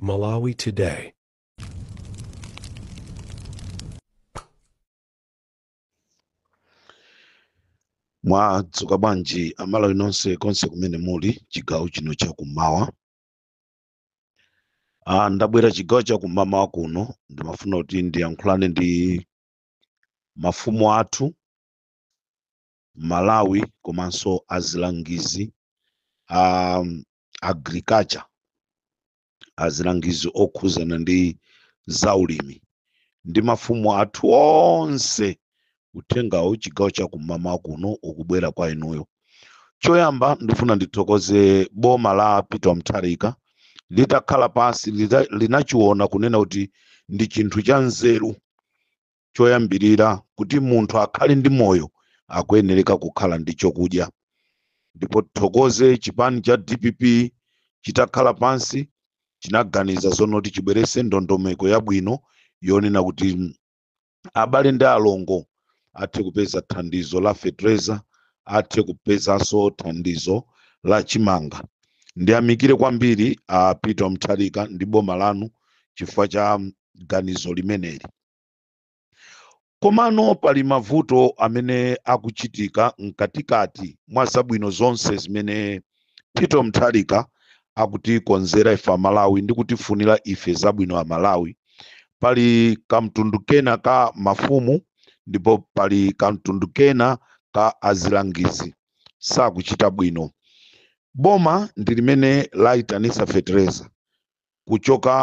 Malawi Today. mwadzuka bwanji amalawi nonse konse kumene muli chigawo chino chakummawa ah, ndabwera chigawo chakummawa kuno ndimafuna kuti ndiyankhulane ndi mafumu athu malawi komanso azilangizi a um, agriculture azilangizi okhuzana ndi zaulimi ndi mafumu athu onse uthengawu chigawo cha kum'mawa kuno ukubwera kwa inuyo choyamba ndifuna ndithokoze boma la peter mtharika litakhala pansi lita- linachiona kunena kuti ndi chinthu cha nzeru choyambirira kuti munthu akhale ndi moyo akuyenereka kukhala ndi chokudya ndipo tithokoze chipani cha dpp chitakhala pansi chinaganiza zonoti chibwerese ndondomeko yabwino yonena kuti mm, abale ndi alongo athe kupeza thandizo la fetereza athe kupezanso thandizo la chimanga ndiyamikire kwambiri a peter mtharika ndi boma lanu chifukwa cha mm, ganizo limeneli Komano pali mavuto amene akuchitika mkatikati mwa zabwino zonse zimene Peter Mtharika akutikonzera ife Amalawi ndi kutifunira ife zabwino Amalawi. Pali kamtundu kena ka mafumu ndipo pali kamtundu kena ka azilangizi sakuchita bwino. Boma ndi limene layitanisa fetereza kuchoka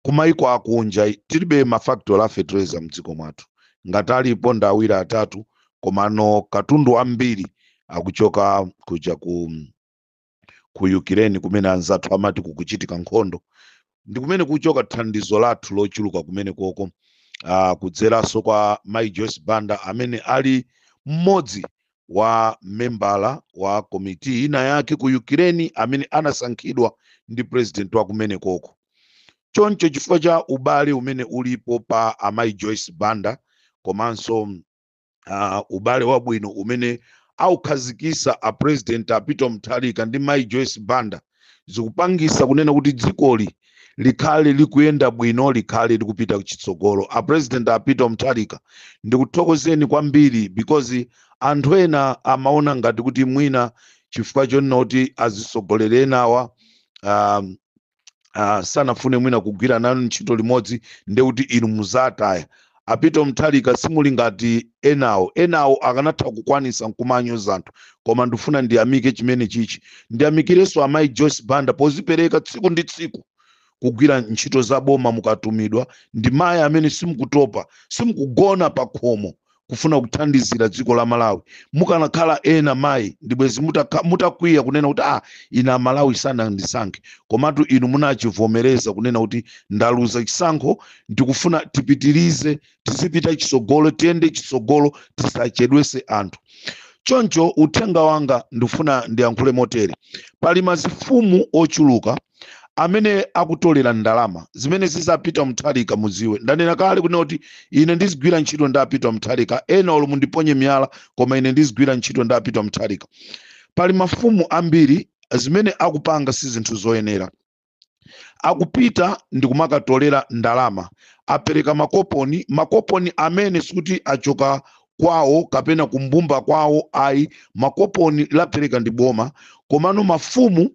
kumaiko akunja tilibe mafactory a fetereza mdziko mwathu ngati alipo ndi awiri atatu komano katundu wambiri akuchoka kuja ku ku Ukraine kumene anzathu amati kukuchitika nkhondo ndi kumene kukuchoka thandizo lathu lochuluka kumene koko uh, kudzeranso kwa Mai Joyce Banda amene ali mmodzi wa membala wa komiti ina yake ku Ukraine amene anasankhidwa ndi president wa kumenekoko. Choncho chifukwa cha ubale umene ulipo pa amayi Joyce Banda komanso uh, ubale wabwino umene aukhazikisa a president a Peter Mutharika ndi mayi Joyce Banda zikupangisa kunena kuti dzikoli likhale likuyenda bwino likhale likupita kuchitsogolo a president a peter mutharika ndikuthokozeni kwambiri because anthu ena amaona ngati kuti mwina chifukwa chonena kuti azitsogoleri enawa um, uh, sanafune mwina kugwira nanu ntchito limodzi nde kuti inu muzawataya a peter mutharika simuli ngati enawo enawo akanatha kukwanisa nkumanyoza anthu koma ndifuna ndiyamike chimene chichi ndiyamikirenso amayi joyce banda pozipereka tsiku ndi tsiku kugwira ntchito za boma mukatumidwa ndi mayi amene simukutopa simukugona pa khomo kufuna kuthandizira dziko la malawi mukanakhala ena mayi ndibwezi mutakha- mutakwiya kunena kuti ah ine amalawi sanandisankhe komatu inu munachivomereza kunena kuti ndaluza chisankho ndikufuna tipitirize tizipita chitsogolo tiyende chitsogolo tisachedwese anthu choncho uthenga wanga ndifuna ndiyankhule motere pali mazifumu ochuluka amene akutolera ndalama zimene zi za peter mutharika muziwe ndanena kale kunena kuti ine ndizigwira ntchito ndi a peter mutharika ena olo mundiponye miyala koma ine ndizigwira ntchito ndi a peter mutharika pali mafumu ambiri zimene akupanga si zinthu zoyenera akupita ndikumakatolera ndalama apereka makoponi makoponi amene sikuti achoka kwawo kapena kumbumba kwawo ayi makoponi lapereka ndi boma komano mafumu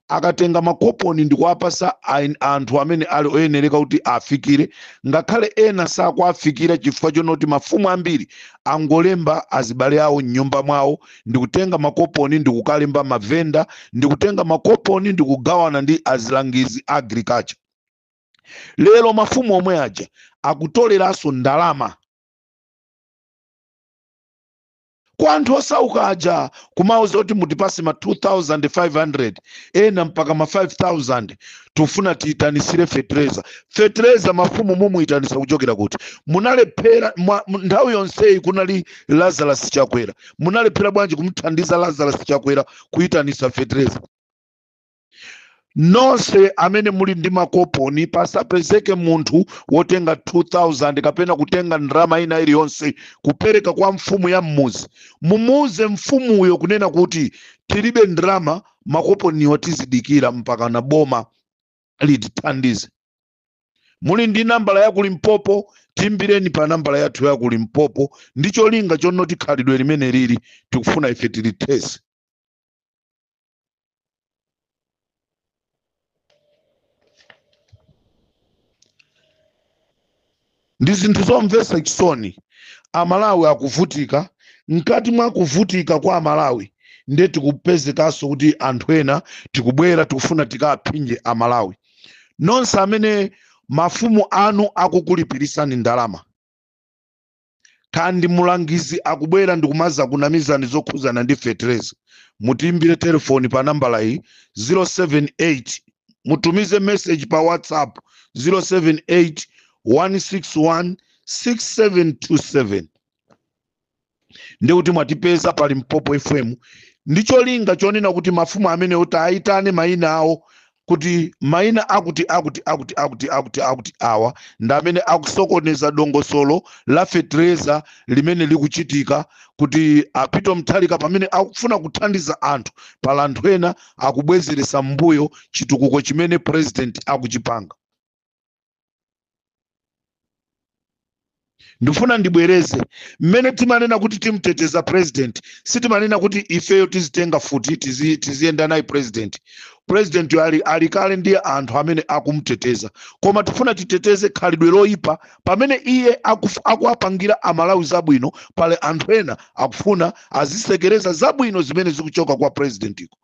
akatenga makoponi ndikuwapasa ain- anthu amene ali oyenereka kuti afikire ngakhale ena sakuwafikira chifukwa chonoti mafumu ambiri angolemba azibale awo m'nyumba mwawo ndikutenga makoponi ndikukalemba mavenda ndikutenga makoponi ndikugawana ndi azilangizi a agriculture lero mafumu omwe aja akutoleranso ndalama kwa anthu osauka aja kumauza kuti mutipase ma 2500 ena mpaka ma 5000 tufuna tiyitanisire fetereza fetereza mafumu mumuyitanisa kuchokera kuti munalephera mwa- mu- nthawi yonseyi kunali lazarus chakwera munalephera bwanji kumuthandiza lazarus chakwera kuyitanisa fetereza nonse amene muli ndi makoponi pasapezeke munthu wotenga 2000 kapena kutenga ndalama ina iliyonse kupereka kwa mfumu ya mmuzi mumuuze mfumuyo kunena kuti tilibe ndalama makoponiwa tizidikira mpakana boma litithandize muli ndi nambala ya ku limpopo tiimbireni pa nambala yathu ya ku limpopo ndi cholinga chonoti khalidwe limeneli tikufuna ife tilithese ndi zinthu zomvetsa chisoni amalawi akuvutika mkati mwa kuvutika kwa amalawi ndiye tikupezekanso kuti anthu ena tikubwera tikufuna tikaphinje amalawi nonse amene mafumu anu akukulipirisani ndalama kandi mulangizi akubwera ndikumazakunamizani zokhuzana ndi fetereza mutiimbire telefoni pa nambala iyi 078 mutumize message pa whatsapp 078 161 6727 ndi kuti mwatipeza pa Limpopo fm ndi cholinga chonena kuti mafumu amenewo tiayitane mayina awo kuti maina akuti akuti akuti akuti akuti akuti awa ndi amene akusokoneza dongosolo la fetereza limene likuchitika kuti a Peter Mutharika pamene akufuna kuthandiza anthu pali anthu ena akubwezeretsa mbuyo chitukuko chimene president akuchipanga ndifuna ndibwereze mmene timanena kuti timteteza president sitimanena kuti ifeyo tizitenga futi tizi- tiziyenda naye president president ali, ali kale ndi anthu amene akumteteza koma tifuna titeteze khalidwe loyipa pamene iye akuf- akuwapangira amalawi zabwino pali anthu ena akufuna azisekereza zabwino zimene zikuchoka kwa presidentiko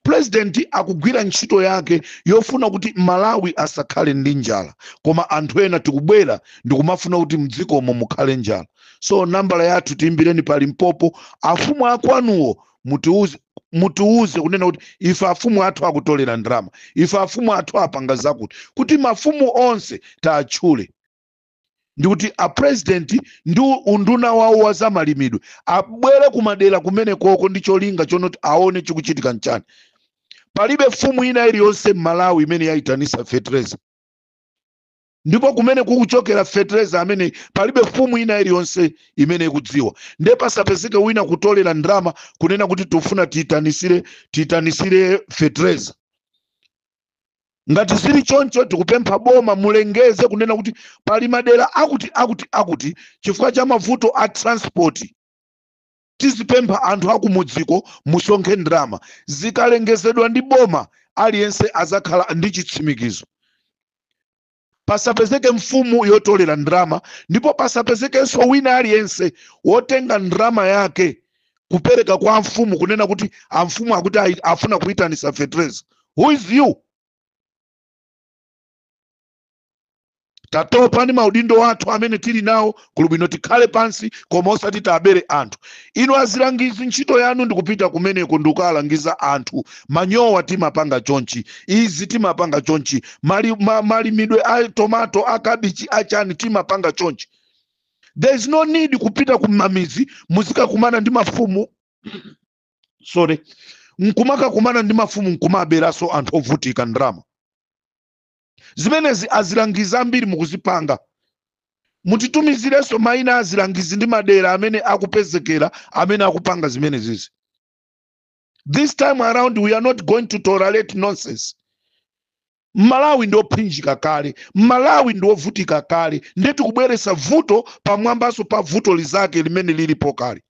President akugwira ntchito yake yofuna kuti Malawi asakhale ndi njala koma anthu ena akubwera ndikumafuna kuti mdzikomo mukhale njala so nambala yathu tiimbireni pa Limpopo afumu akwanuwo mutiuze mutiuze kunena kuti ife afumu athu akutolera ndalama ife afumu athu apanga zakuti kuti mafumu onse taatchule ndikuti a president ndi unduna wawo wa zamalimidwe abwere kumadera kumene koko ndi cholinga chonoti aone chikuchitika nchani palibe fumu ina iliyonse m'malawi imene yayitanisa fetereza ndipo kumene kukuchokera fetereza amene palibe fumu ina iliyonse imene ikudziwa nde pasapezeke wina kutolera ndalama kunena kuti tifuna tiyitanisire tiyitanisire fetereza ngati zili choncho tikupempha boma mulengeze kunena kuti pali madera akuti akuti akuti chifukwa cha mavuto a transport tizipempha anthu akumudziko musonkhe ndalama zikalengezedwa ndi boma aliyense azakhala ndi chitsimikizo pasapezeke mfumu yotolera ndalama ndipo pasapezekenso wina aliyense wotenga ndalama yake kupereka kwa amfumu kunena kuti amfumu akuti ayi- afuna kuyitanisa fetereza who is you tatopa ndi maudindo athu amene tili nawo kuli bwino tikhale pansi koma osati tiabere anthu inu azilangizi ntchito yanu ndikupita kumeneko ndikukaalangiza anthu manyowa timapanga chonchi izi timapanga chonchi mali, ma, malimidwe a tomato a kabichi achani timapanga chonchi there is no need kupita kumamizi muzikakumana ndi mafumu sorry nkumakakumana ndi mafumu nkumaaberanso anthu ovutika ndrama zimenezi azilangizi ambiri mukuzipanga mutitumizirenso maina azilangizi ndi madera amene akupezekera amene akupanga zimenezizi this time around we are not going to tolerate nonsense malawi ndi ophinjika kale malawi ndi ovutika kale ndiye tikubweretsa vuto pamwambanso pa vuto lizake limene lilipo kale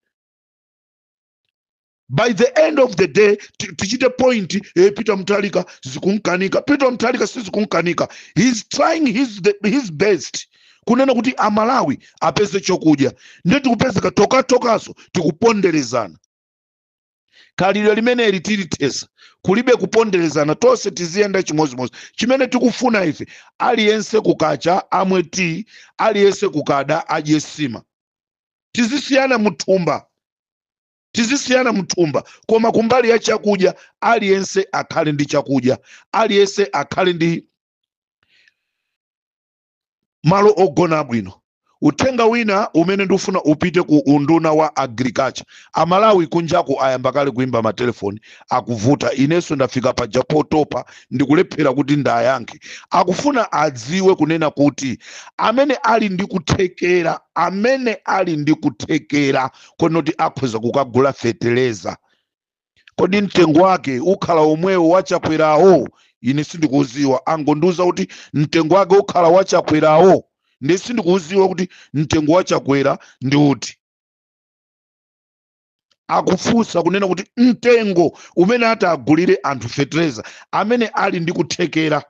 by the end of the day ti- tichite point eh, peter mutharika zikumkanika peter mutharika sizikumkanika he's trying his, the, his best kunena kuti amalawi apeze chokudya ndiye tikupezeka tokhatokhanso tikuponderezana khalidwe limeneli tilithetsa kulibe kuponderezana tonse tiziyenda chimodzimodzi chimene tikufuna ife aliyense kukacha amwe tiyi aliyense kukada adye nsima tizisiyana muthumba tizisiyana mthumba koma kumbali ya chakudya aliyense akhale ndi chakudya aliyense akhale ndi malo ogona bwino uthenga wina umene ndikufuna upite ku unduna wa agriculture amalawi kunjaku ayamba kale kuimba matelefoni akuvuta inenso ndafika paja potopa ndikulephera kuti ndiwayankhe akufuna adziwe kunena kuti amene ali ndi kuthekera amene ali ndi kuthekera konena kuti akhoza kukagula feteleza kodi mtengo wake ukhala omwewo wa a chakwerawo ine sindikuudziwa angondiuza kuti mtengo wake ukhala wa a chakwerawo ndiye sindikuudziwa kuti mtengo wa a chakwera ndi uti akufunsa kunena kuti mtengo umene atagulire anthu fetereza amene ali ndi kuthekera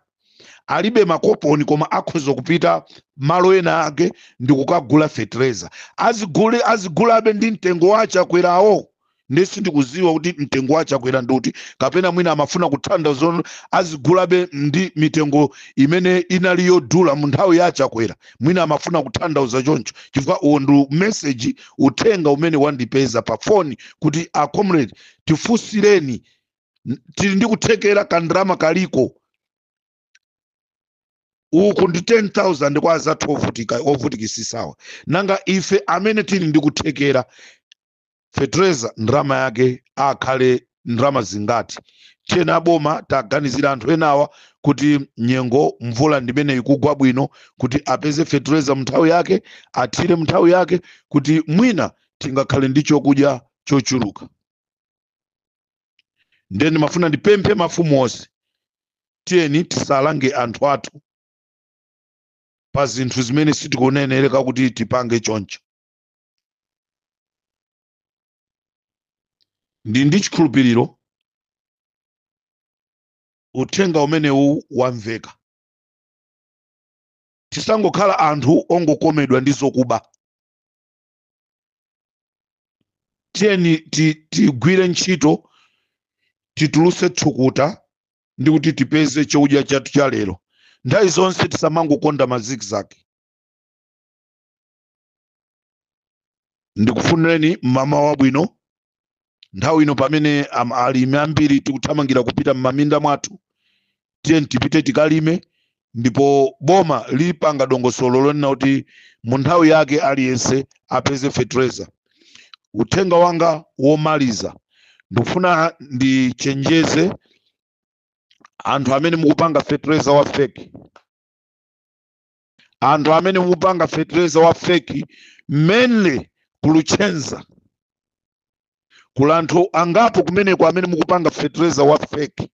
alibe makoponi koma akhoza kupita malo ena ake ndi kukagula fetereza azigule azigulabe ndi mtengo wa a chakwerawo ndiye sindikudziwa kuti mtengo wa a chakwera ndi uti kapena mwina amafuna kuthandauza kuti azigulabe ndi mitengo imene inali yodula mu nthawi ya a chakwera mwina amafuna kuthandauza choncho chifukwa uwo ndi meseji uthenga umene wandipeza pa foni kuti a comrade tifunsireni N- tili ndi kuthekera kandalama kaliko uku ndi 10000 kwa anzathu ovutika ovutikitsitsawa nanga ife amene tili ndi kuthekera fetereza ndalama yake akhale ndalama zingati tiyeni aboma taganizirani anthu enawa kuti nyengo mvula ndimene ikugwa bwino kuti apeze fetereza mnthawi yake athire mnthawi yake kuti mwina tingakhale ndi chokudya chochuluka ndiye ndimafuna ndipemphe mafumu onse tiyeni tisalange anthu athu pa zinthu zimene sitikuyenereka kuti tipange choncho ndi ndi chikhulupiriro uthenga umenewu wamveka tisangokhala anthu ongokomedwa ndi zokuba tiyeni ti- tigwire ntchito titulutse thukuta ndi kuti tipeze chakudya chathu cha lero nthawi zonse tisamangokonda mazigzag ndikufunireni mmawa wabwino nthawi ino pamene am- alimi ambiri tikuthamangira kupita m'maminda mwathu tiyeni tipite tikalime ndipo boma lipanga dongosolo lonena kuti mu nthawi yake aliyense apeze fetereza uthenga wanga womaliza ndikufuna ndichenjeze anthu amene mukupanga fetereza wa feki anthu amene mukupanga fetereza wa feki mainly ku Luchenza kuli anthu angapo kumeneko amene mukupanga fetereza wa feki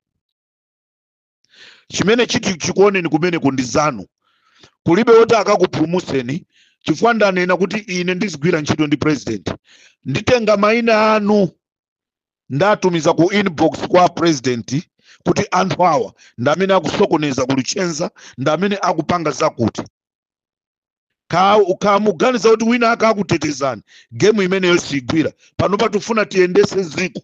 chimene chiti chikuoneni kumeneko ndi zanu kulibe woti akakupulumutseni chifukwa ndanena kuti ine ndizigwira ntchito ndi president nditenga maina anu ndatumiza ku inbox kwa apresident kuti anthu awa ndi amene akusokoneza ku Luchenza ndi amene akupanga zakuti Ka- kamuganiza kuti wina akakutetezani gemu imeneyo sigwira panopa tifuna tiyendese ziko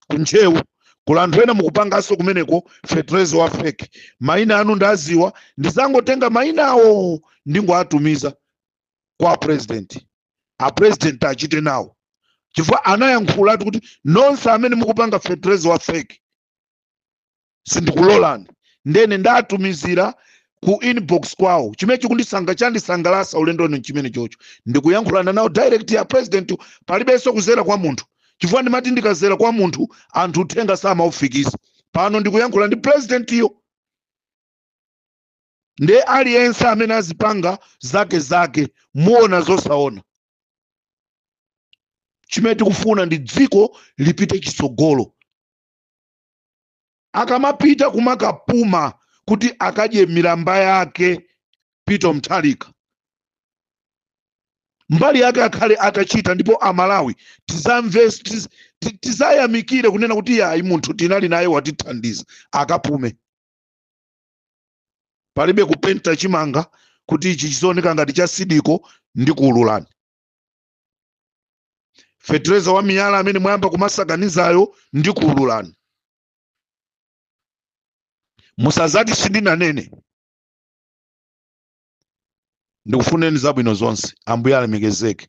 ku Ntcheu kuli anthu ena mukupanganso kumeneko fetereza wa feki maina anu ndaziwa ndizangotenga maina awo ndingoatumiza kwa apurezidenti apurezidenti achite nawo chifukwa anayankhulatu kuti nonse amene mukupanga fetereza wa fake sindikulolani nde ndatumizira ku inbox kwawo chimene chikundisanga chandisangalasa ulendo uno nchimenecho choti ndikuyankhulana nawo direct a presidentiyo palibenso kuzera kwa munthu chifukwa ndimati ndikazera kwa munthu anthu uthenga samaufikisa pano ndikuyankhula ndi presidentiyo nde aliyense amene azipanga zake zake muona zosaona chimene tikufuna ndi dziko lipite chitsogolo akamapita kumakapuma kuti akadye milamba yake Peter Mutharika mbali yake akhale atachita ndipo amalawi tizamve tiz- ti- tizayamikire kunena kuti iyayi munthu tinali naye watithandiza akapume palibe kupenta chimanga kuti ichi chiziwoneka ngati cha sidiko ndikuululani fetereza wa miyala amene mwayamba kumasakanizayo ndikuululani musazati sindinanene ndikufuneni zabwino zonse ambuye alemekezeke